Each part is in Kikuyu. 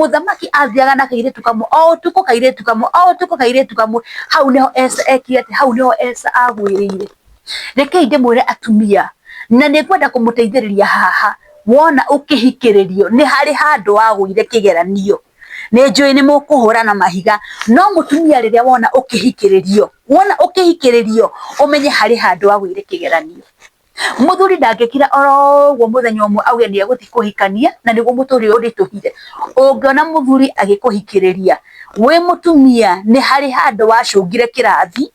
mũthamaki athiaga na kairĩtu kamwe o ũtukũ kairĩtu kamwe o ũtukũ kairĩtu kamwe hau nĩho Esa ekire atĩ hau nĩho Esa agwĩrĩire rekei ndĩmwĩre atumia na nĩ ngwenda kũmũteithĩrĩria haha wona ũkĩhikĩrĩrio nĩ harĩ handũ wagũire kĩgeranio nä njå ä nä må kå hå rana mahiga no må tumia rä rä a wona å kä hikĩrĩrio wona å kä hikĩrĩrio å menye harä handå agå ire kä geranio muthuri ndangikira oro guo muthenya umwe auge ni eguthi kuhikania na niguo muturi uri tuhire ungiona muthuri agikuhikiriria wi mutumia ni hari handu wacungire kirathi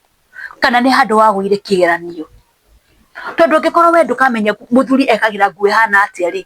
kana ni handu wagwire kigeranio tondu ngikorwo we ndukamenya muthuri ekagira nguo ihana atia ri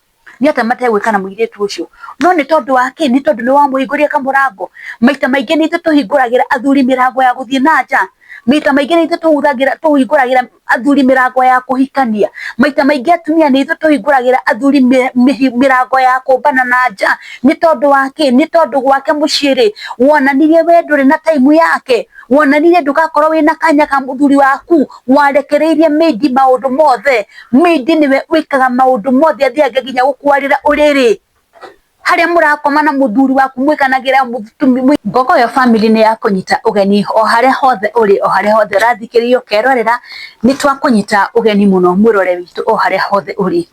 nĩ atĩa mategwĩka na mũirĩtu ũcio? No nĩ tondũ wa kĩ? Nĩ tondũ nĩ wamũhingũrĩire kamũrango? Maita maingĩ nĩ ithuĩ tũhingũragĩra athuri mĩrango ya gũthiĩ na nja. Maita maingĩ nĩ ithuĩ tũhingũragĩra athuri mĩrango ya kũhikania. Maita maingĩ atumia nĩ ithuĩ tũhingũragĩra athuri mĩrango ya kũmbana na nja. Nĩ tondũ wa kĩ? Nĩ tondũ gwake mũciĩ rĩ, wonanirie we ndũrĩ na time yake? Wonanirie ndũgakorwo wĩna kanya ka mũthuri waku? Warekereirie maid maũndũ mothe? Ningĩ nĩwe ũikaga maũndũ mothe athiaga nginya gũkwarĩra ũrĩrĩ harĩa mũrakoma na mũthuri waku mwĩkanagĩra mũtumia ngogo yo family nĩ ya kũnyita ũgeni o harĩa hothe ũrĩ o harĩa hothe ũrathikĩrĩria ũkerorera nĩ twakũnyita ũgeni mũno mwĩrore witũ o harĩa hothe ũrĩ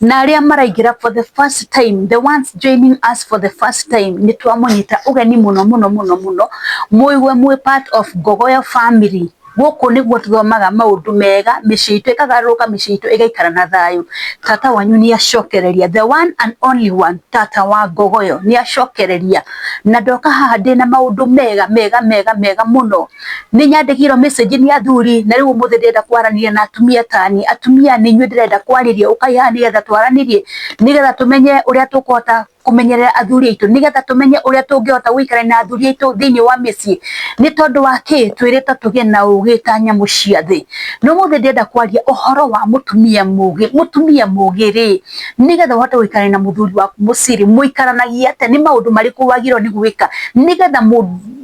na arĩa maraingĩra for the first time the ones joining us for the first time nĩ twamũnyita ũgeni mũno mũno mũno mũigue mwĩ part of ngogoyo family. Gũkũ nĩguo tũthomaga maũndũ mega, mĩciĩ itũ ĩkagarũrũka, mĩciĩ itũ ĩgaikara na thayũ. Tata wanyu nĩ acokereria, the one and only one, tata wa ngogo ĩyo nĩ acokereria. Na ndoka haha ndĩna maũndũ mega mega mega mega mũno. Nĩ nyandĩkĩirwo message nĩ athuri, na rĩu ũmũthĩ ndĩrenda kwaranĩria na atumia tani. Atumia nĩ inyuĩ ndĩrenda kwarĩria, ũkai haha nĩgetha twaranĩrie, nĩgetha tũmenye ũrĩa tũkũhota kũmenyerera athuri aitũ nĩgetha tũmenye ũrĩa tũngĩhota gũikarania na athuri aitũ thĩinĩ wa mĩciĩ. Nĩ tondũ wa kĩ? Twĩrĩtwo tũgĩe na ũũgĩ ta nyamũ cia thĩ. Na ũmũthĩ ndĩrenda kwaria ũhoro wa mũtumia mũũgĩ. Mũtumia mũũgĩ rĩ, nĩgetha ũhote gũikarania na mũthuri waku mũciĩ rĩ, mũikaranagia atĩa? Nĩ maũndũ marĩkũ wagĩrĩirwo nĩ gwĩka nĩgetha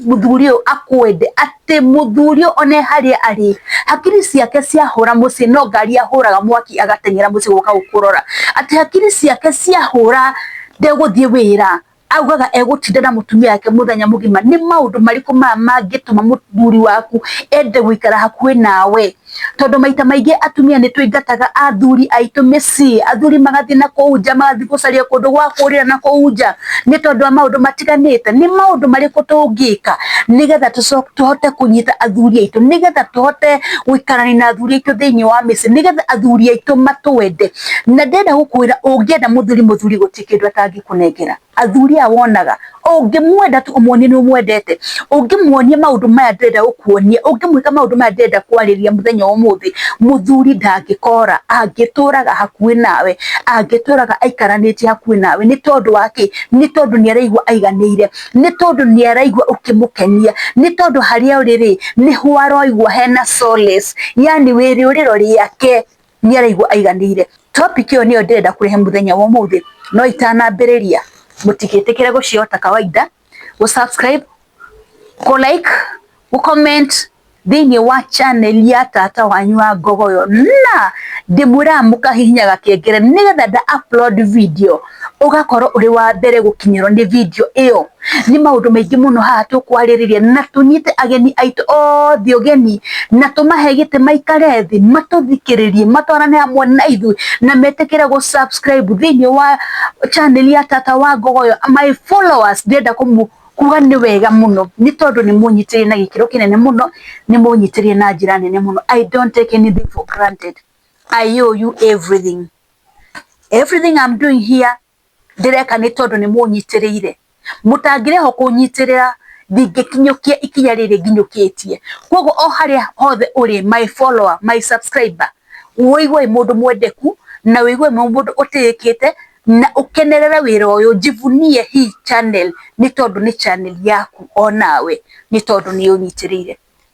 mũthuri ũyũ akwende? atĩ mũthuri one harĩa arĩ hakiri ciake ciahũra mũciĩ no ngari ahũraga mwaki agateng'era mũciĩ gũka gũkũrora atĩ hakiri ciake ciahũra ndegũthiĩ wĩra augaga egũtinda na mũtumia wake mũthenya mũgima nĩ maũndũ marĩkũ maya mangĩtũma mũthuri waku ende gũikara hakuhĩ nawe tondũ maita maingĩ atumia nĩ tũingataga athuri aitũ mĩciĩ, athuri magathiĩ na kũu nja, magathiĩ gũcaria kũndũ gwa kũrĩra na kũu nja, nĩ tondũ wa maũndũ matiganĩte. Nĩ maũndũ marĩkũ tũngĩka nĩgetha tũhote kũnyita athuri aitũ, nĩgetha tũhote gũikarania na athuri aitũ thĩinĩ wa mĩciĩ, nĩgetha athuri aitũ matwende? Na ndĩrenda gũkwĩra ũngĩenda mũthuri mũthuri gũtirĩ kĩndũ atangĩkũnengera. athuri aya wonaga ũngĩmwenda tu ũmuonie nĩ ũmwendete ũngĩmuonia maũndũ maya ndĩrenda gũkuonia ũngĩmwĩka maũndũ maya ndĩrenda kwarĩria mũthenya wa ũmũthĩ mũthuri ndangĩkora angĩtũraga hakuhĩ nawe angĩtũraga aikaranĩtie hakuhĩ nawe nĩ tondũ wa kĩ nĩ tondũ nĩ araigua aiganĩire nĩ tondũ nĩ araigua ũkĩmũkenia nĩ tondũ harĩa ũrĩ rĩ nĩho aroigua hena solace yani wĩrĩũrĩro rĩake nĩ araigua aiganĩire. Topic ĩyo nĩyo ndĩrenda kũrehe mũthenya wa ũmũthĩ, no itanambĩrĩria, mũtigĩtĩkĩre gũciyo ta kawaida, gũ subscribe, kũ like, gũ comment thĩinĩ wa channel ya tata wanyu wa Ngogoyo, na ndĩmwĩraga mũkahihinya gakengere nĩgetha nda upload video. ũgakorwo ũrĩ wa mbere gũkinyĩrwo nĩ video ĩyo. Nĩ maũndũ maingĩ mũno haha tũkwarĩrĩria na tũnyite ageni aitũ othe ũgeni na tũmahe gĩtĩ maikare thĩ matũthikĩrĩrie matwarane hamwe na ithuĩ na metĩkĩre gũ subscribe thĩinĩ wa channel ya Tata wa Ngogoyo. My followers ndĩrenda kũmũ kuga nĩ wega mũno nĩ tondũ nĩ mũnyitĩrĩire na gĩkĩro kĩnene mũno, nĩ mũnyitĩrĩire na njĩra nene mũno. I don't take anything for granted. I owe you everything. everything I'm doing here ndĩreka nĩ tondũ nĩ mũnyitĩrĩire mũtangĩreho kũnyitĩrĩra ndingĩkinyũkia ikinya rĩrĩ nginyũkĩtie koguo o harĩa hothe ũrĩ my follower my subscriber wĩigue mũndũ mwendeku na wĩigue mũndũ ũtĩĩkĩte na ũkenerere wĩra ũyũ njivunie hii channel nĩ tondũ nĩ channel yaku onawe nĩ tondũ nĩ ũnyitĩrĩire.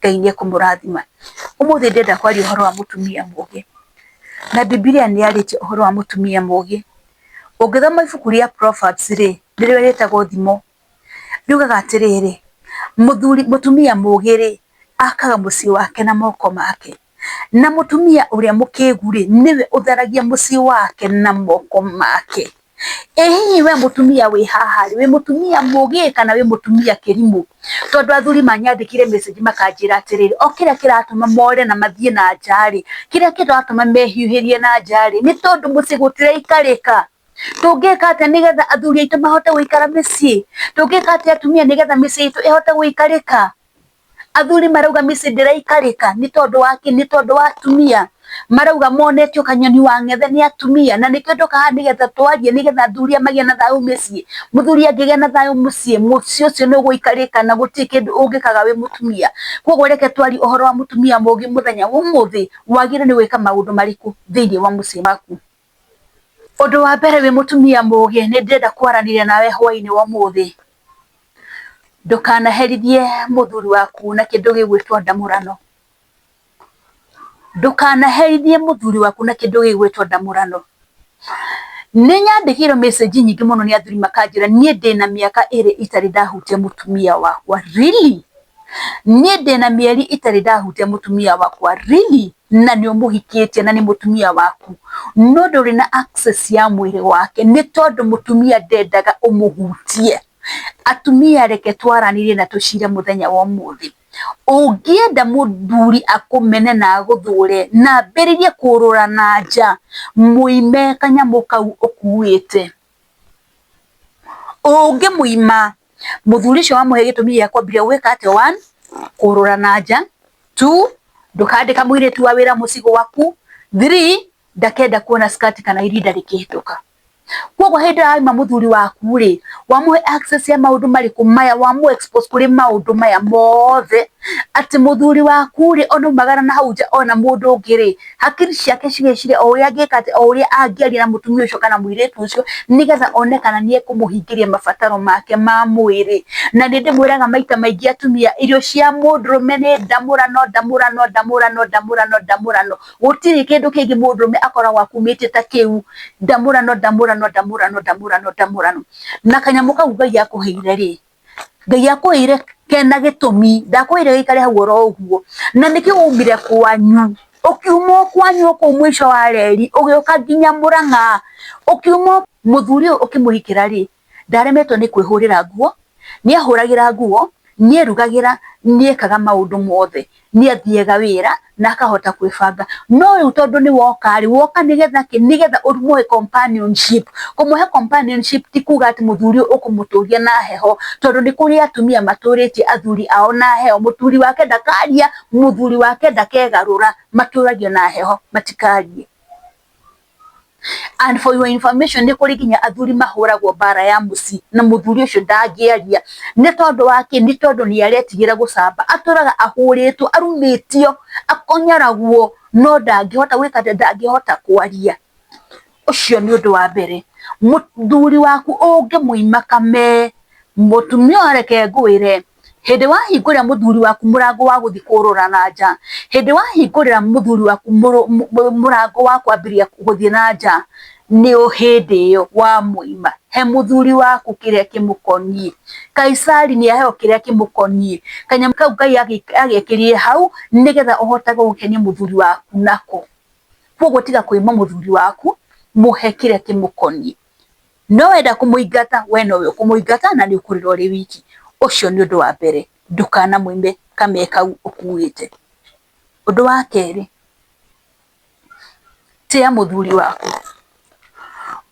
Ngai nĩ ekũmũrathima. Ũmũthĩ ndĩrenda kwaria ũhoro wa mũtumia mũgĩ, na Bibilia nĩ yarĩtie ũhoro wa mũtumia mũgĩ. Ũngĩthoma ibuku rĩa Proverbs rĩ, nĩrĩo rĩtagwo thimo, riugaga atĩrĩrĩ, mũthuri, mũtumia mũgĩ rĩ, akaga mũciĩ wake na moko make. Na mũtumia ũrĩa mũkĩgu-rĩ, nĩwe ũtheragia mũciĩ wake na moko make. Ĩ hihi we mũtumia wĩ haha-rĩ, wĩ mũtumia mũgĩ kana wĩ mũtumia kĩrimũ? Tondũ athuri manyandĩkĩire message makanjĩra atĩrĩrĩ, o kĩrĩa kĩratũma more na mathiĩ na nja-rĩ, kĩrĩa kĩratũma mehiũhĩrie na nja-rĩ, nĩ tondũ mũciĩ gũtiraikarĩka. Tũngĩka atĩa nĩgetha athuri aitũ mahote gũikara mĩciĩ? Tũngĩka atĩa atumia nĩgetha mĩciĩ itũ ĩhote gũikarĩka? Athuri marauga mĩciĩ ndĩraikarĩka nĩ tondũ wa kĩ? Nĩ tondũ wa atumia. Marauga monetio kanyoni wa ng'ethe nĩ atumia, na nĩkĩo ndoka haha nĩgetha twarie nĩgetha athuri aya magĩe na thayũ mĩciĩ. Mũthuri angĩgĩa na thayũ mũciĩ, mũciĩ ũcio nĩ ũgũikarĩka na gũtirĩ kĩndũ ũngĩkaga wĩ mũtumia. Koguo reke twarie ũhoro wa mũtumia mũũgĩ mũthenya wa ũmũthĩ, wagĩrĩirwo nĩ gwĩka maũndũ marĩkũ thĩiniĩ wa mũciĩ waku. Ũndũ wa mbere wĩ mũtumia mũũgĩ nĩ ndĩrenda kwaranĩria nawe hwainĩ wa ũmũthĩ. Ndũkanaherithie mũthuri waku na kĩndũ gĩgwĩtwo ndamũrano. Ndũkanaherithie mũthuri waku na kĩndũ gĩgwĩtwo ndamũrano. Nĩ nyandĩkĩirwo message nyingĩ mũno nĩ athuri makanjĩra niĩ ndĩna mĩaka ĩrĩ itarĩ ndahutia mũtumia wakwa. Really? Niĩ ndĩna mĩeri itarĩ ndahũtia mũtumia wakwa. Really? Na nĩ ũmũhikĩtie na nĩ mũtumia waku. No ndũrĩ na access ya mwĩrĩ wake nĩ tondũ mũtumia ndendaga ũmũhutie. Atumia reke twaranĩrie na tũcire mũthenya wa ũmũthĩ. Ũngĩenda mũthuri akũmene na agũthũre na ambĩrĩrie kũũrũra na nja, mũime kanyamũ kau ũkuĩte. Ũngĩmũima mũthuri ũcio wamũhe gĩtũmi gĩa kwambire gwĩka atĩ one, kũrũra na nja, two, ndũkandĩka mũirĩtu wa wĩra mũciĩ gwaku, three, ndakenda kuona skirt kana irinda rĩkĩhĩtũka. Koguo hĩndĩ ĩrĩa waima mũthuri waku rĩ, wamũhe access ya maũndũ marĩkũ maya, wamũ expose kũrĩ maũndũ maya mothe, atĩ mũthuri waku rĩ, ona aumagara na hau nja ona mũndũ ũngĩ rĩ, hakiri ciake cigĩciria o ũrĩa angĩka atĩ o ũrĩa angĩaria na mũtumia ũcio kana mũirĩtu ũcio nĩgetha one kana nĩ ekũmũhingĩria mabataro make ma mwĩrĩ. Na nĩ ndĩmwĩraga maita maingĩ atumia, irio cia mũndũrũme nĩ ndamũrano, ndamũrano, ndamũrano, ndamũrano, ndamũrano. Gũtirĩ kĩndũ kĩngĩ mũndũrũme akoragwo akumĩtie ta kĩu. Ndamũrano, ndamũrano, ndamũrano, ndamũrano, ndamũrano. Na kanyamũ kau Ngai akũheire rĩ, Ngai akwĩire kena gĩtũmi, ndakwĩire gĩikare hau oro ũguo. Na nĩkĩ waumire kwanyu, ũkiuma o kwanyu o kũu mũico wa reri, ũgĩũka nginya Mũrang'a, ũkiuma o. Mũthuri ũyũ ũkĩmũhikĩra rĩ, ndaremetwo nĩ kwĩhũrĩra nguo, nĩ ehũragĩra nguo, nĩ erugagĩra, nĩ ekaga maũndũ mothe. nĩ athiaga wĩra na akahota kwĩbanga. No rĩu tondũ nĩ woka rĩ, woka nĩgetha kĩ? Nĩgetha ũmũhe companionship. Kũmũhe companionship ti kuga atĩ mũthuri ũyũ ũkũmũtũria na heho, tondũ nĩ kũrĩ atumia matũrĩtie athuri ao na heho, mũthuri wake ndakaria, mũthuri wake ndakegarũra, matũragio na heho matikarie. and for your information nĩ kũrĩ nginya athuri mahũragwo mbara ya mũciĩ na mũthuri ũcio ndangĩaria nĩ tondũ wa kĩ nĩ tondũ nĩ aretigĩra gũcamba atũraga ahũrĩtwo arumĩtio akonyaragwo no ndangĩhota gwĩka atĩ ndangĩhota kwaria ũcio nĩ ũndũ wa mbere mũthuri waku ũngĩmũima kamee mũtumia ũyũ reke ngwĩre Hĩndĩ wahingũrĩra mũthuri waku mũrango wa gũthiĩ kũrũra na nja, hĩndĩ wahingũrĩra mũthuri waku mũrango wa kwambĩrĩria gũthiĩ na nja, nĩ hĩndĩ ĩyo wamũima. He mũthuri waku kĩrĩa kĩmũkoniĩ. Kaisari nĩ aheo kĩrĩa kĩmũkoniĩ. Kanyamũ kau Ngai agĩkĩrire hau nĩgetha ũhotage gũkenia mũthuri waku nako. Kwoguo tiga kũima mũthuri waku, mũhe kĩrĩa kĩmũkoniĩ. no wenda kũmũingata we nowe ũkũmũingata na nĩ ũkũrĩra ũrĩ wiki. Ũcio nĩ ũndũ wa mbere ndũkanamũime kame kau ũkuĩte. Ũndũ wa kerĩ, tĩa mũthuri waku.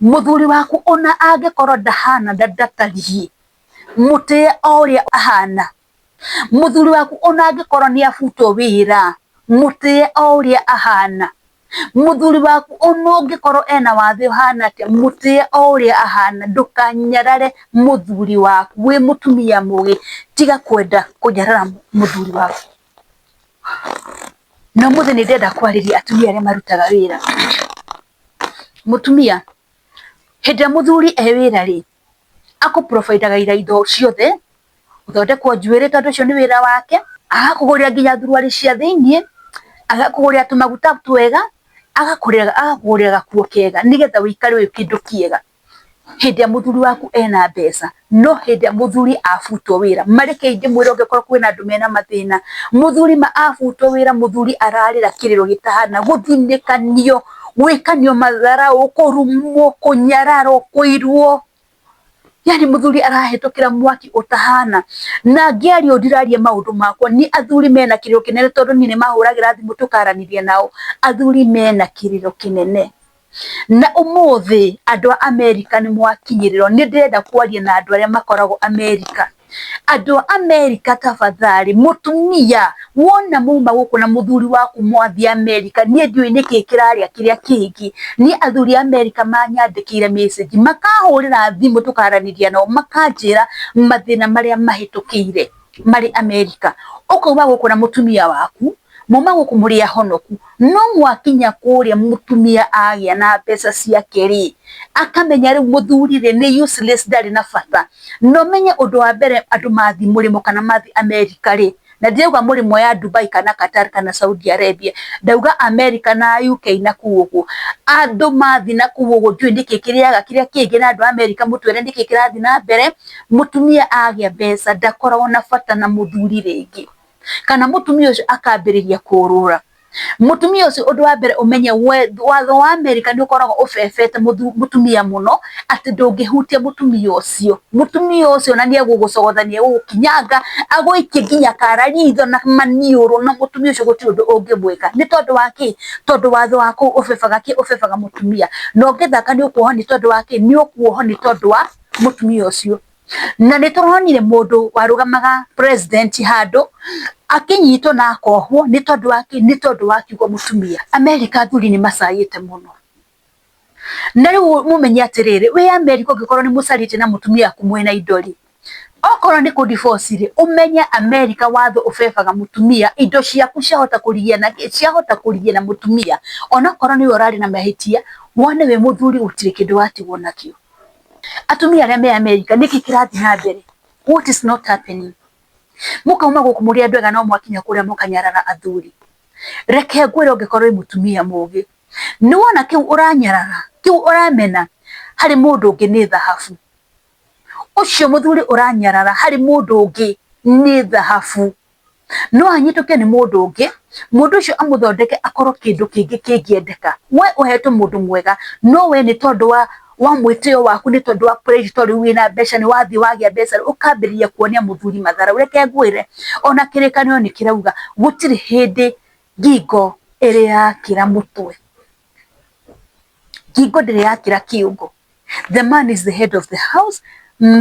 Mũthuri waku ona angĩkorwo ndahana ndatariĩ mũtĩe o ũrĩa ahana mũthuri waku ona angĩkorwo nĩ abutwo wĩra mũtĩe o ũrĩa ahana mũthuri waku ona ũngĩkorwo ena wathe ũhana atĩa mũtĩe o ũrĩa ahana ndũkanyarare mũthuri waku wĩ mũtumia mũgĩ tiga kwenda kũnyarara mũthuri waku. Na ũmũthĩ nĩ ndĩrenda kwarĩria atumia arĩa marutaga wĩra, mũtumia hĩndĩ ĩrĩa mũthuri e wĩra rĩ akũprobaithaga ira indo ciothe, gũthondekwo njuĩrĩ tondũ ũcio nĩ wĩra wake, agakũgũrĩra nginya thuruarĩ cia thĩiniĩ, agakũgũrĩra tũmaguta twega, agakũgũrĩra gakuo kega nĩgetha ũikare ũrĩ kĩndũ kĩega hĩndĩ ĩrĩa mũthuri waku ena mbeca, no hĩndĩ ĩrĩa mũthuri abutwo wĩra, ma reke ndĩmwĩre angĩkorwo kwĩna andũ mena mathĩna, mũthuri ma abutwo wĩra mũthuri ararĩra kĩrĩro gĩtahana gũthinĩkanio. gwĩka nĩ matharaũ, kũrumwo, kũnyararwo, kũirwo, yani mũthuri arahĩtũkĩra mwaki ũtahana, na ngĩaria ũũ ndiraria maũndũ makwa, nĩ athuri mena kĩrĩro kĩnene tondũ niĩ nĩ mahũragĩra thimũ tũkaranĩria nao, athuri mena kĩrĩro kĩnene, na ũmũthĩ andũ a Amerika nĩ mwakinyĩrĩrwo, nĩ ndĩrenda kwaria na andũ arĩa makoragwo Amerika, Andũ a Amerika tafadhali mũtumia wona muma gũkũ na mũthuri waku mwathiĩ Amerika, niĩ ndiũĩ nĩkĩ kĩrarĩa kĩrĩa kĩngĩ, niĩ athuri a Amerika manyandĩkĩire message makahũrĩra thimũ tũkaranĩria nao makanjĩra mathĩna marĩa mahĩtũkĩire marĩ Amerika, ũkauga gũkũ na mũtumia waku. muma gũkũ mũrĩ ahonoku no mwakinya kũrĩa mũtumia agĩa na mbeca ciake rĩ akamenya rĩu mũthuri rĩ nĩ useless ndarĩ na bata no menye ũndũ wa mbere andũ mathi mũrĩmo kana mathi America rĩ na ndirauga mũrĩmo ya Dubai kana Qatar kana Saudi Arabia ndauga America na UK na kũu ũguo andũ mathi na kũu ũguo ndiũĩ nĩkĩ kĩrĩaga kĩrĩa kĩngĩ na andũ a America mũtwĩre nĩkĩ kĩrathi na mbere mũtumia agĩa mbeca ndakoragwo na bata na mũthuri rĩngĩ. kana mũtumia ũcio akambĩrĩria kũũrũra. Mũtumia ũcio ũndũ wa mbere ũmenye watho wa America nĩ ũkoragwo ũbebete mũtumia mũno atĩ ndũngĩhutia mũtumia ũcio. Mũtumia ũcio ona nĩ egũgũcogotha nĩ egũgũkinyanga agũikie nginya kara ritho na maniũrũ na mũtumia ũcio gũtirĩ ũndũ ũngĩmwĩka. Nĩ tondũ wa kĩĩ? Tondũ watho wa kũu ũbebaga kĩĩ? Ũbebaga mũtumia. Na ũngĩthaka nĩ ũkuohwo nĩ tondũ wa kĩĩ? Nĩ ũkuohwo nĩ tondũ wa mũtumia ũcio. na nĩ tũronire mũndũ warũgamaga president handũ akĩnyitwo na akohwo nĩ tondũ wa kĩ? Nĩ tondũ wa kiugo mũtumia. America athuri nĩ macayĩte mũno. Na rĩu mũmenye atĩrĩrĩ, wĩ America ũngĩkorwo nĩ mũcarĩtie na mũtumia waku mwĩna indo rĩ, okorwo nĩ kũ divorce rĩ, ũmenye America watho ũbebaga mũtumia, indo ciaku ciahota kũrigia na kĩ? Ciahota kũrigia na mũtumia, onokorwo nĩwe ũrarĩ na mahĩtia, wone wĩ mũthuri gũtirĩ kĩndũ watigwo nakĩo. Atumia arĩa me Amerika nĩkĩ kĩrathiĩ na mbere? What is not happening? Mũkauma gũkũ mũrĩ andũ ega no mwakinya kũrĩa mũkanyarara athuri. Reke ngwĩre ũngĩkorwo wĩ mũtumia mũgĩ, nĩ wona kĩu ũranyarara, kĩu ũramena harĩ mũndũ ũngĩ nĩ thahabu. Ũcio mũthuri ũranyarara harĩ mũndũ ũngĩ nĩ thahabu. no anyitũke nĩ mũndũ ũngĩ, mũndũ ũcio amũthondeke akorwo kĩndũ kĩngĩ kĩngĩendeka. We ũhetwo mũndũ mwega, no we nĩ tondũ wa wa mwĩtĩyo waku nĩ tondũ wa prestige tondũ rĩu wĩna mbeca nĩ wathiĩ wagĩa mbeca rĩ, ũkambĩrĩria kuonia mũthuri matharaũ. Reke ngwĩre, ona kĩrĩkanĩro nĩ kĩrauga, gũtirĩ hĩndĩ ngingo ĩrĩakĩra mũtwe. hingo ndĩrĩ yakĩra kĩongo, the man is the head of the house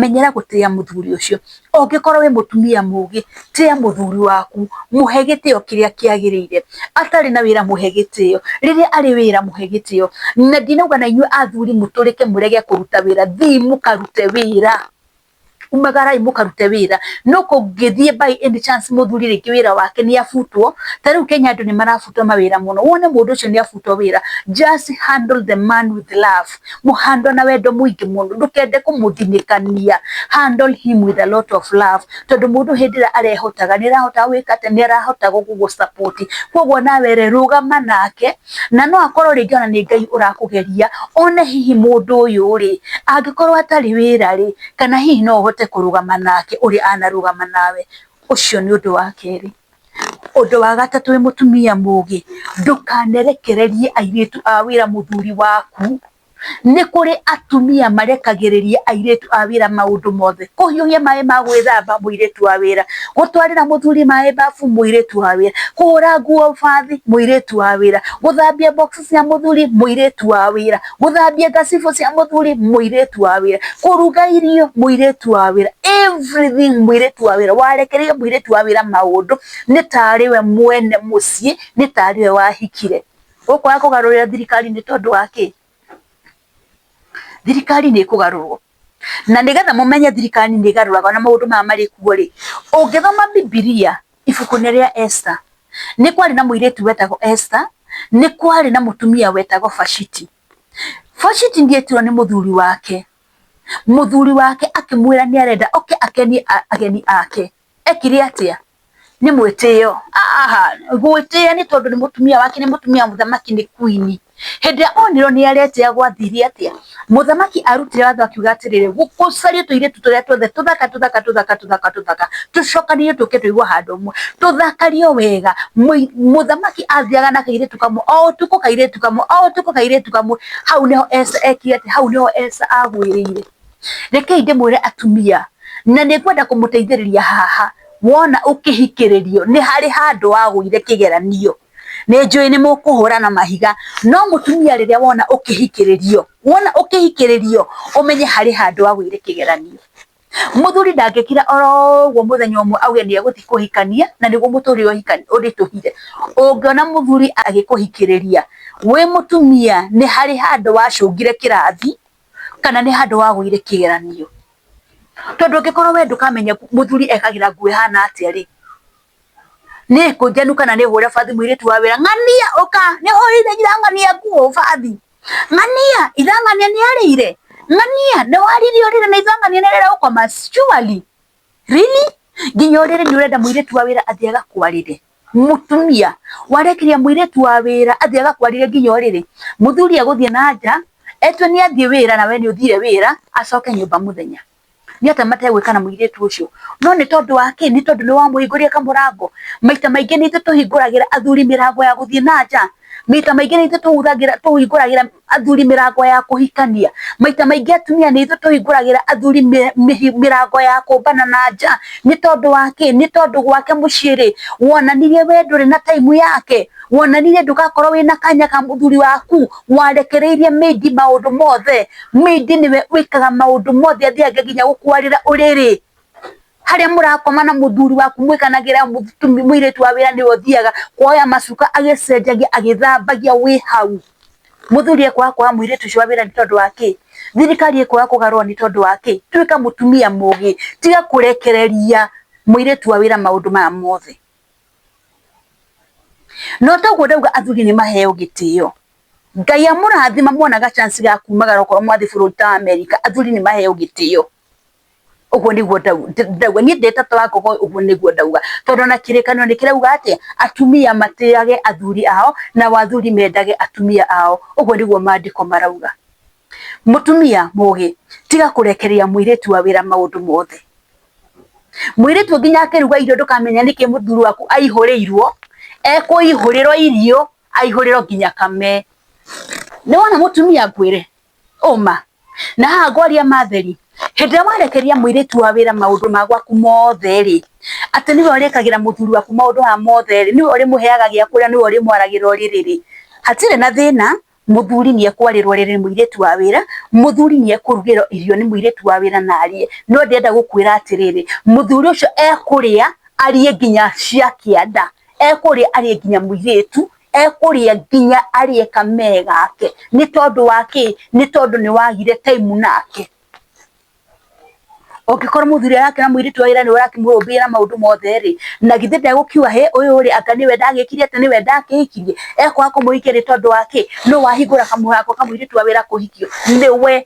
menyera gũtĩa mũthuri ũcio, ũngĩkorwo wĩ mũtumia mũgĩ tĩa mũthuri waku, mũhe gĩtĩo kĩrĩa kĩagĩrĩire, atarĩ na wĩra mũhe gĩtĩo, rĩrĩa arĩ wĩra mũhe gĩtĩo, na ndinauga na inyuĩ athuri mũtũrĩke mũrege kũruta wĩra, thii mũkarute wĩra. Umagara imukaruta wĩra no kũngĩthiĩ by any chance mũthuri rĩngĩ wĩra wake nĩ abutwo, ta rĩu Kenya andũ nĩ marabutwo mawĩra mũno, wone mũndũ ũcio nĩ abutwo wĩra, just handle the man with love, mũ handle na wendo mũingĩ mũno, ndũkende kũmũthinĩkania, handle him with a lot of love, tondũ mũndũ hĩndĩ ĩrĩa arehotaga nĩ arahota gwĩka atĩa, nĩ arahota gũgũ support, kũguo nawe rĩ rũgama nake na no akorwo rĩngĩ ona nĩ Ngai ũrakũgeria one hihi mũndũ ũyũ rĩ, angĩkorwo atarĩ wĩra rĩ, kana hihi no ũhote kũrũgama nake ũrĩa anarũgama nawe. Ũcio nĩ ũndũ wa kerĩ. Ũndũ wa gatatũ wĩ mũtumia mũgĩ, ndũkanerekererie airĩtu a wĩra mũthuri waku. Nĩ kũrĩ atumia marekagĩrĩria airĩtu a wĩra maũndũ mothe, kũhiũhia maĩ ma gwĩthamba mũirĩtu wa wĩra, gũtwarĩra mũthuri maĩ babu mũirĩtu wa wĩra, kũhũra nguo bathi mũirĩtu wa wĩra, gũthambia box cia mũthuri mũirĩtu wa wĩra, gũthambia ngacibũ cia mũthuri mũirĩtu wa wĩra, kũruga irio mũirĩtu wa wĩra, everything mũirĩtu wa wĩra. Warekereria mũirĩtu wa wĩra maũndũ nĩ tarĩ we mwene mũciĩ, nĩ tarĩ we wahikire. Gũkũ kwaga kũgarũrĩra thirikari nĩ tondũ wa kĩ? Thirikari nĩ ĩkũgarũrwo, na nĩgetha mũmenye thirikari nĩ ĩgarũraga ona maũndũ maya marĩ kuo rĩ, ũngĩthoma Bibilia ibuku-inĩ rĩa Esther, nĩ kwarĩ na mũirĩtu wetagwo Esther, nĩ kwarĩ na mũtumia wetagwo Vashiti. Vashiti nĩ etirwo nĩ mũthuri wake, mũthuri wake akĩmwĩra nĩ arenda oke akenie ageni ake. e kiri atĩa nĩ mwĩtĩo gwĩtĩa nĩ tondũ nĩ mũtumia wake nĩ mũtumia wa mũthamaki nĩ queen hĩndĩ ĩrĩa onirwo nĩ aretĩa gwathire atĩa mũthamaki arutire watho akiuga atĩrĩrĩ gũcario tũirĩtu tũrĩa tuothe tũthaka tũthaka tũthaka tũthaka tũthaka tũcokanĩrĩrio tũke tũigwo handũ ũmwe tũthakario wega mũthamaki athiaga na kairĩtu kamwe o ũtukũ kairĩtu kamwe o ũtukũ kairĩtu kamwe hau nĩho Esa ekire atĩa hau nĩho Esa agũĩrĩire. Rekei ndĩmwĩre atumia, na nĩ ngwenda kũmũteithĩrĩria haha, wona ũkĩhikĩrĩrio nĩ harĩ handũ wagũire kĩgeranio. Nĩ njũĩ nĩ mũkũhũra na mahiga, no mũtumia rĩrĩa wona ũkĩhikĩrĩrio, wona ũkĩhikĩrĩrio ũmenye harĩ handũ wagũire kĩgeranio. Mũthuri ndangĩkira oro ũguo mũthenya ũmwe auge nĩ egũthiĩ kũhikania na nĩguo mũtũrĩre ũhikania ũritũhire. Ũngĩona mũthuri agĩkũhikĩrĩria wĩ mũtumia nĩ harĩ handũ wacũngire kĩrathi, kana nĩ handũ wagũire kĩgeranio, tondũ ũngĩkorwo we ndũkamenya mũthuri ekagĩra nguo ĩhana atĩa rĩ, nĩ ĩkũ njenu kana nĩ hũre bathi mũirĩtu wa wĩra, ng'ania ũka nĩ hwainĩ irang'ania nguo bathi, ng'ania irang'ania nĩ arĩire, ng'ania nĩ warire ũrĩrĩ na irang'ania nĩ arĩire gũkoma, surely? Really? Nginya ũrĩrĩ nĩ ũrenda mũirĩtu wa wĩra athiĩ agakwarĩre? mutumia warekeria muiretu wa wira athie agakwarire nginya uriri muthuri aguthie na nja etwe ni athie wira na we ni uthire wira acoke nyumba muthenya ni ata mategwikana muiretu ucio no ni tondu wa ki ni tondu ni wa muhinguria kamurango maita maingi ni itwe tuhinguragira athuri mirango ya guthie na nja maita maingi ni itwe tuhinguragira athuri mĩrango ya kũhikania maita maingĩ atumia nĩ ithuĩ tũhingũragĩra athuri mĩ- mĩhi- mĩrango ya kũmbana na nja nĩ tondũ wa kĩ nĩ tondũ gwake mũciĩ rĩ wonanirie we ndũrĩ na taimu yake wonanirie ndũgakorwo wĩna kanya ka mũthuri waku warekereirie mĩindi maũndũ mothe mĩindi nĩwe wĩkaga maũndũ mothe athiange nginya gũkwarĩra ũrĩrĩ harĩa mũrakoma na mũthuri waku mwĩkanagĩra mũirĩtu wa wĩra nĩwe ũthiaga kuoya macuka agĩcenjagia agĩthambagia wĩ hau muthuri ekwaga kwaga muiritu ucio wa wira ni tondu wa ki thirikari ekwaga kugarwo ni tondu wa ki tuika mutumia mugi tiga kurekereria muiritu wa wira maundu maya mothe no toguo ndauga athuri ni maheo gitio ngai amurathima monaga chance ga kumagara okorwo mwathi bururi ta america athuri ni maheo gitio ũguo nĩguo ndauga niĩ ndĩtatũ wa ngogo ũguo nĩguo ndauga tondũ na kĩrĩkanĩro nĩ kĩrauga atĩ atumia matĩage athuri ao na athuri mendage atumia ao ũguo nĩguo maandĩko marauga mũtumia mũgĩ tiga kũrekereria mũirĩtu wa wĩra maũndũ mothe mwĩrĩtu nginya akĩruga irio ndũkamenya nĩkĩ mũthuri waku aihũrĩirwo ekũihũrĩrwo irio aihũrĩrwo nginya kame nĩ wona mũtumia ngwĩre ũma na haha ngwaria matheri hĩndĩ ĩrĩa warekeria mũirĩtu wa wĩra maũndũ ma gwaku mothe rĩ atĩ nĩwe ũrĩkagĩra mũthuri waku maũndũ maya mothe rĩ nĩwe ũrĩmũheaga gĩa kũrĩa nĩwe ũrĩmwaragĩra ũrĩrĩ rĩ hatirĩ na thĩna mũthuri nĩ ekwarĩrwo rĩrĩ nĩ mũirĩtu wa wĩra mũthuri nĩ ekũrugĩrwo irio nĩ mũirĩtu wa wĩra na arĩe no ndĩrenda gũkwĩra atĩrĩrĩ mũthuri ũcio ekũrĩa arĩe nginya cia kĩanda ekũrĩa arĩe nginya mũirĩtu ekũrĩa nginya arĩe kamee gake nĩ tondũ wa kĩ nĩ tondũ nĩ wagire time nake ũngĩkorwo mũthuri arakĩra mũirĩtu wa wĩra nĩ ũrakĩmũrũmbĩiya na maũndũ mothe rĩ na githĩ ndegũkiuga he ũyũ rĩ anga nĩwe ndagĩkire atĩ nĩwe ndakĩhikirie ekwaga kũmũhikia nĩ tondũ wa kĩ nĩ wahingũra kamũrango ka mũirĩtu wa wĩra kũhikio nĩwe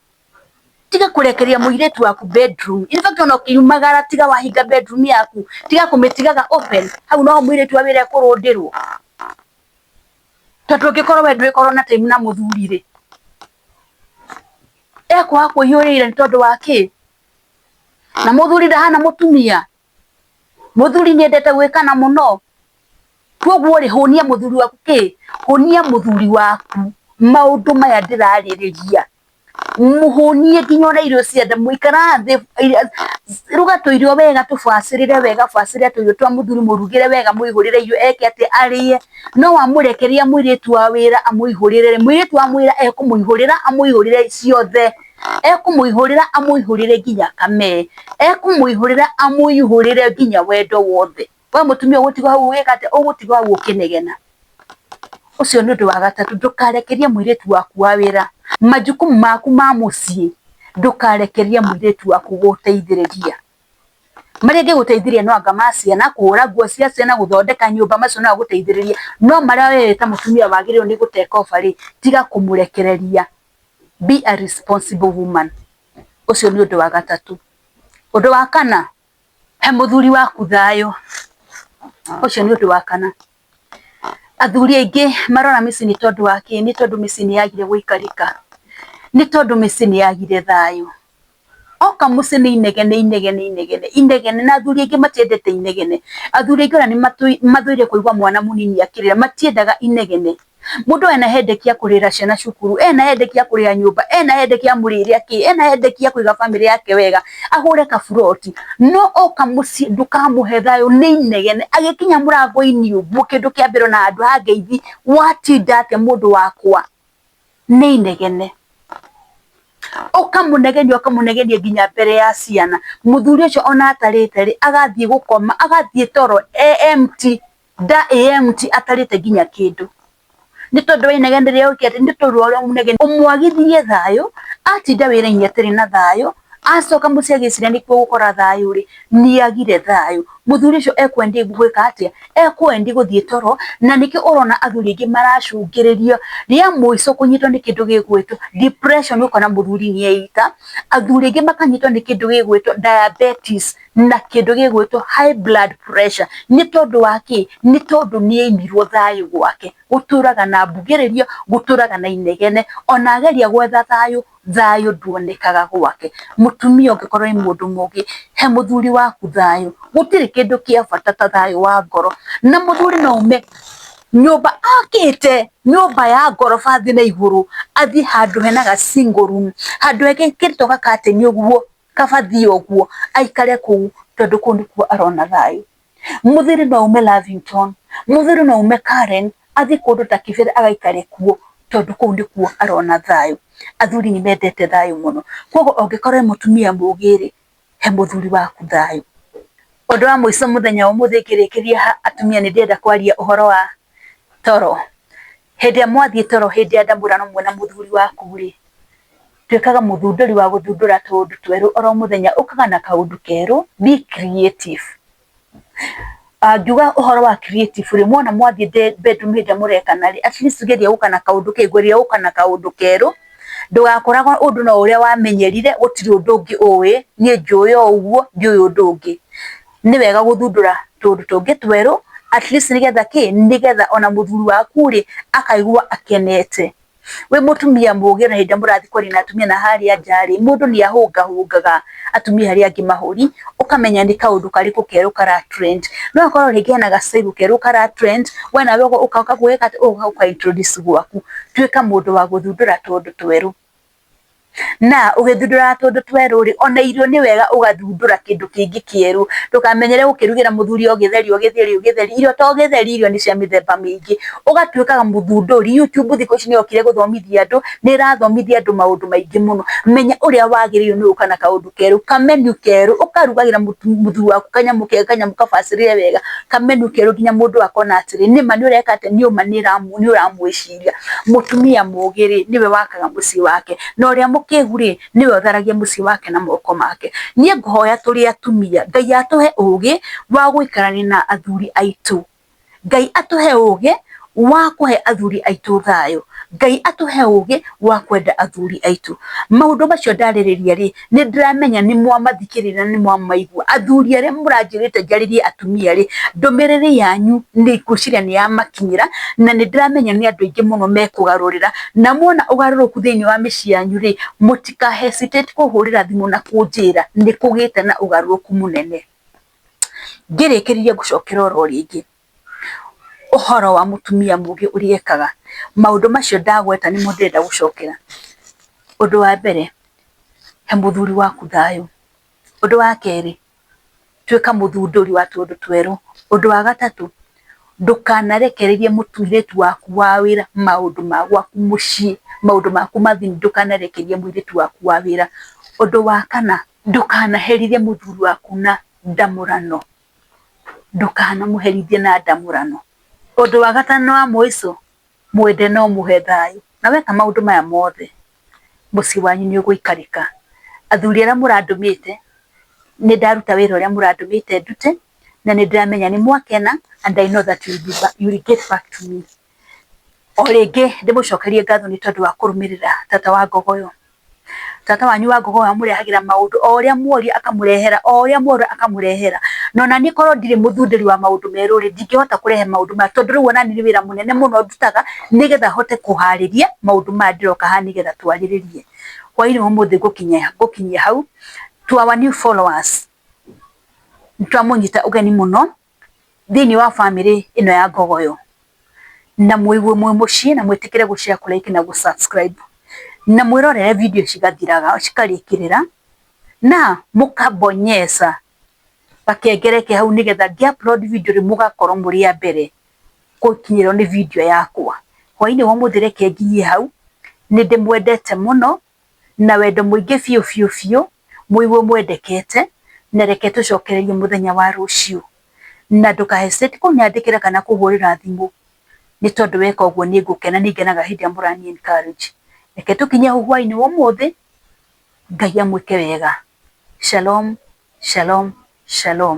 tiga kurekeria muiretu waku bedroom in fact ona ukiumagara tiga wahinga bedroom yaku tiga kumitigaga open hau no muiretu wa wira kurundirwo tondu ngikorwo we ndwikorwo na time na muthuri ri ekwaga kuhiurira ni tondu wa ki na muthuri ndahana mutumia muthuri nyendete gwikana muno koguo ri hunia muthuri waku ki hunia muthuri waku maundu maya ndiraririria muhunie nginya ona irio cia nda muikara thi ruga tuirio wega tubacirire wega bacirire tuirio twa muthuri murugire wega muihurire irio eke ati arie no wamurekeria mwiritu wa wira amuihurire mwiritu amwira ekumuihurira amuihurire ciothe ekũmũihũrĩra amũihũrĩre nginya kamee, ekũmũihũrĩra amũihũrĩre nginya wendo wothe. We mũtumia ũgũtigwo hau ũgĩka atĩa? Ũgũtigwo hau ũkĩnegena. Ũcio nĩ ũndũ wa gatatũ, ndũkarekererie mũirĩtu waku wa wĩra, majukumu maku ma mũciĩ, ndũkarekererie mũirĩtu waku gũgũteithĩrĩria. Marĩa angĩgũteithĩrĩria no anga ma ciana, kũhũra nguo cia ciana, gũthondeka nyũmba, macio no agũteithĩrĩrie, no marĩa we ta mũtumia wagĩrĩirwo nĩ gũ take over rĩ, tiga kũmũrekereria. bi a man ũcio nĩ ũndũ wa gatatũ. Ũndũ wa kana, he mũthuri waku thayũ, ũcio nĩ ũndũ wa kana. Athuri aingĩ marona mĩciĩ nĩ tondũ wa kĩ? Nĩ tondũ mĩciĩ nĩ yagire gũikarĩka, nĩ tondũ mĩciĩ nĩ yagire thayũ. O kamusi nĩ inege, nĩ inege, nĩ inege, nĩ inege, na athuri aingĩ matiendete inegene. Athuri aingĩ ona nĩ mathũire kũigua mwana mũnini akĩrĩra, matiendaga inegene. Mũndũ ena headache ya kũrĩhĩra ciana cukuru, ena headache ya kũrĩha nyũmba, ena headache ya mũrĩre kĩ, ena headache ya kũiga bamĩrĩ yake wega, agũre kaburoti, no oka mũciĩ ndũkamũhe thayũ, nĩ inegene. Agĩkinya mũrango-inĩ ũguo kĩndũ kĩa mbere ona handũ ha ngeithi, watinda atĩa mũndũ wakwa? nĩ inegene, ũkamũnegenĩa ũkamũnegenĩa nginya mbere ya ciana, mũthuri ũcio ona atarĩte rĩ, agathiĩ gũkoma, agathiĩ toro e empty, nda ĩ empty atarĩte nginya kĩndũ, nĩ tondũ wa inegene rĩrĩa ũgwĩkĩte, nĩ tondũ wa ũrĩa ũmũnegeneire, ũmwagithĩrie thayũ, atinda wĩra-inĩ atarĩ na thayũ. acoka mũciagĩcira nĩ kũgũkora thayũ rĩ nĩagire thayũ mũthuri ũcio ekwendi gwĩka atĩa ekwendi gũthiĩ toro na nĩkĩo ũrona athuri aingĩ maracũngĩrĩrio rĩa mũico kũnyitwo nĩ kĩndũ gĩgwĩtwo depression ũkona mũthuri nĩ eita athuri aingĩ makanyitwo nĩ kĩndũ gĩgwĩtwo diabetes na kĩndũ gĩgwĩtwo high blood pressure nĩ tondũ wa kĩ nĩ tondũ nĩ aimirwo thayũ gwake gũtũraga na mbugĩrĩrio gũtũraga na inegene ona ageria gwetha thayũ thayũ nduonekaga gwake. Mũtumia ũngĩkorwo wĩ mũndũ mũgĩ, he mũthuri waku thayũ, gũtirĩ kĩndũ kĩa bata ta thayũ wa ngoro. Na mũthuri no aume nyũmba akĩte, nyũmba ya ngoroba thĩ na igũrũ, athiĩ handũ hena ga single room, handũ ekĩrĩtwo gakateni ũguo, kabathia ũguo, aikare kũu tondũ kũu nĩkuo arona thayũ. Mũthiri no aume Lavington, mũthiri no aume Karen, athiĩ kũndũ ta Kĩbĩra agaikare kuo tondũ kũu nĩkuo arona thayũ. Athuri nĩ mendete thayũ mũno. Kwoguo ũngĩkorwo wĩ mũtumia mũgĩ rĩ, he mũthuri waku thayũ. Ũndũ wa mũico mũthenya wa ũmũthĩ ngĩrĩkĩria haha atumia nĩ ndĩrenda kwaria ũhoro wa toro. Hĩndĩ ĩrĩa mwathiĩ toro hĩndĩ ya ndamũrano mwĩna mũthuri waku rĩ, Tuĩkaga mũthundũri wa gũthundũra tũũndũ twerũ oro mũthenya, ũkaga na kaũndũ kerũ, be creative. Ngiuga ũhoro wa creative rĩ, mwona mwathiĩ bedroom hĩndĩ ĩrĩa mũrekana rĩ, at least geria gũka na kaũndũ, geria gũka na kaũndũ kerũ, ndũgakoragwo ũndũ no ũrĩa wamenyerire, gũtirĩ ũndũ ũngĩ ũĩ, niĩ njũĩ o ũguo, ndiũĩ ũndũ ũngĩ. Nĩ wega gũthundũra tũũndũ tũngĩ twerũ, at least nĩgetha kĩ, nĩgetha ona mũthuri waku rĩ, akaigua akenete. wĩ mũtumia mũgĩ na hĩndĩ mũrathi kwaria na atumia na harĩa nja rĩ mũndũ nĩ ahũngahũngaga atumia arĩa angĩ mahũri ũkamenya nĩ kaũndũ karĩkũ kerũ kara trend no korwo rĩngĩ hena gacaibu kerũ kara trend we nawe ũgoka ũkaguo ũka introduce gwaku tuĩka mũndũ wa gũthundũra tũũndũ twerũ. Na ũgĩthundũraga tũndũ twerũ-rĩ, ona irio nĩ wega ũgathundũra kĩndũ kĩngĩ kĩerũ. Ndũkamenyere gũkĩrugĩra mũthuri o gĩtheri o gĩtheri o gĩtheri. Irio to gĩtheri, irio nĩ cia mĩthemba mĩingĩ. Ũgatuĩkaga mũthundũri. YouTube thikũ ici nĩ yokire gũthomithia andũ, nĩ ĩrathomithia andũ maũndũ maingĩ mũno. Menya ũrĩa wagĩrĩirwo nĩ gũka na kaũndũ kerũ, ka menu kerũ, ũkarugagĩra mũthuri waku kanyamũ kega, kanyamũ kabacĩrĩre wega, ka menu kerũ nginya mũndũ akona atĩrĩ, nĩma nĩ ũreka atĩa, nĩ ũma nĩ ũramwĩciria. mũtumia mũtumia mũgĩ rĩ nĩwe wakaga mũciĩ wake na ũrĩa mũkĩgu rĩ nĩwe ũtharagia mũciĩ wake na moko make. Niĩ ngũhoya tũrĩ atumia Ngai atũhe ũgĩ wa gũikarania na athuri aitũ. Ngai atũhe ũgĩ wa kũhe athuri aitũ thayũ. Ngai atũhe ũgĩ wa kwenda athuri aitũ. Maũndũ macio ndarĩrĩria rĩ nĩ ndĩramenya nĩ mwamathikĩrĩria na nĩ mwamaigua. Athuri arĩa mũranjĩrĩte njarĩrie atumia rĩ, ndũmĩrĩrĩ yanyu nĩ ngwĩciria nĩ yamakinyĩra na nĩ ndĩramenya nĩ andũ aingĩ mũno mekũgarũrĩra. Na mwona ũgarũrũku thĩinĩ wa mĩciĩ yanyu rĩ, mũtika hesitate kũhũrĩra thimũ na kũnjĩra nĩ kũgĩte na ũgarũrũku mũnene. Ngĩrĩkĩrĩria ngũcokera oro rĩngĩ. ũhoro wa mũtumia mũgĩ ũrĩa ekaga, maũndũ macio ndagweta nĩmo ndĩrenda gũcokera. Ũndũ wa mbere, he mũthuri waku thayũ. Ũndũ wa kerĩ, tuĩka mũthundũri wa tũũndũ twerũ. Ũndũ wa gatatũ, ndũkanarekererie mũirĩtu waku wa wĩra maũndũ ma gwaku mũciĩ, maũndũ maku ma thiri ndũkanarekererie mũirĩtu waku wa wĩra. Ũndũ wa kana, ndũkanaherithie mũthuri waku na ndamũrano. ndũkanamũherithie na ndamũrano. Ũndũ wa gatano na wa mũico, mwende na ũmũhe thayũ. Na weka maũndũ maya mothe, mũciĩ wanyu nĩ ũgũikarĩka. Athuri arĩa mũrandũmĩte, nĩ ndaruta wĩra ũrĩa mũrandũmĩte ndute, na nĩ ndĩramenya nĩ mwakena and I know that you will get back to me. o rĩngĩ ndĩmũcokerie ngatho nĩ tondũ wa kũrũmĩrĩra tata wa ngogo ĩyo. Tata wanyu wa ngogo amũrehagĩra maũndũ o ũrĩa mworia akamũrehera, o ũrĩa mworia akamũrehera. Na ona niĩ korwo ndirĩ mũthundĩri wa maũndũ merũ rĩ, ndingĩhota kũrehe maũndũ maya tondũ rĩu ona niĩ nĩ wĩra mũnene mũno ndutaga nĩgetha hote kũharĩria maũndũ maya ndĩroka haha nĩgetha twarĩrĩrie. Hwainĩ wa ũmũthĩ ngũkinyia hau. To our new followers, nĩ twamũnyita ũgeni mũno thĩinĩ wa bamĩrĩ ĩno ya Ngogoyo, na mũigue mwĩ mũciĩ na mwĩtĩkĩre gũ share, kũ like na gũ subscribe, na mwĩrorere video cigathiraga cikarĩkĩrĩra, na mũka bonyeza gakengere ke hau, nĩgetha ngĩ upload video rĩ mũgakorwo mũrĩ a mbere gũkinyĩrwo nĩ video yakwa. Hwainĩ wa ũmũthĩ reke nginyie hau, nĩ ndĩmwendete mũno. na wendo mũingĩ biũ biũ biũ, mũigwo mwendekete, na reke tũcokererie mũthenya wa rũciũ. Na ndũka hesitate kũnyandĩkĩra kana kũhũrĩra thimũ, nĩ tondũ weka ũguo nĩ ngũkena, nĩ ngenaga hĩndĩ ĩrĩa mũrani encourage. Reke tũkinye hau hwaĩ-inĩ wa ũmũthĩ, Ngai amwĩke wega. Shalom, shalom, shalom.